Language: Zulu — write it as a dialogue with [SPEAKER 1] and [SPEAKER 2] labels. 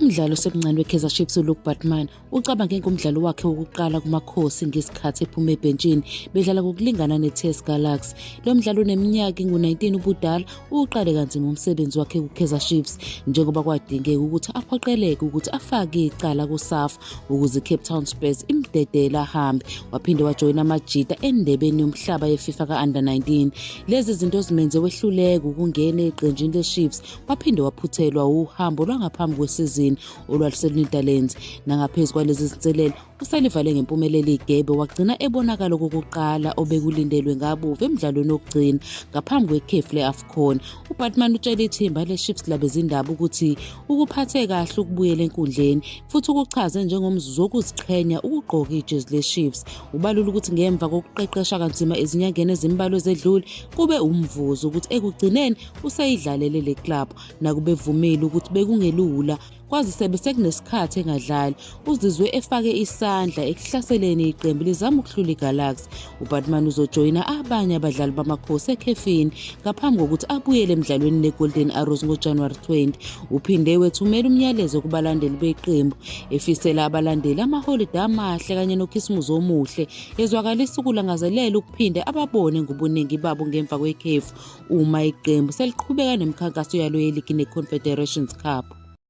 [SPEAKER 1] Umdlali osemncane weKaizer Chiefs uLuke Batman ucabange ngomdlalo wakhe wokuqala kuMakhosi ngesikhathi ephuma ebhentshini bedlala ngokulingana neTS Galaxy. Lo mdlali oneminyaka engu-19 ubudala uwuqale kanzima umsebenzi wakhe kuKaizer Chiefs njengoba kwadingeka ukuthi aphoqeleke ukuthi afake icala kuSAFA ukuze icape town spurs imdedele ahambe waphinde wajoyina amajita endebeni yomhlaba yefifa ka-under 19 lezi zinto zimenze wehluleka ukungena eqenjini lechiefs waphinde waphuthelwa uhambo lwangaphambi kwesizini olwaluselunedalens nangaphezu kwalezi zinselelo uselivale ngempumelelo igebe wagcina ebonakala okokuqala obekulindelwe ngabuve emdlalweni wokugcina ngaphambi kwekhefu le-afcon ubatman utshele ithimba lechiefs labezindaba ukuthi ukuphathe kahle ukubuyela enkundleni futhi ukuchaze njengomzuzu wokuziqhenya ukugqoka ijezi leChiefs. Ubalula ukuthi ngemva kokuqeqesha kanzima ezinyangeni ezimbalwa ezedlule, kube umvuzo ukuthi ekugcineni useyidlalele le club. Nakube evumile ukuthi bekungelula kwazise besekunesikhathi engadlali uzizwe efake isandla ekuhlaseleni iqembu lizama ukuhlula igalaxy ubatman uzojoyina abanye abadlali bamakhosi ekhefini ngaphambi kokuthi abuyele emdlalweni negolden arrows ngojanuwari 20 uphinde wethumela umyalezo kubalandeli beqembu efisela abalandeli amaholide amahle kanye nokhisimuzi omuhle ezwakalisa ukulangazelela ukuphinde ababone ngobuningi babo ngemva kwekhefu uma iqembu seliqhubeka nemikhankaso yalo yeligi ne-confederations cup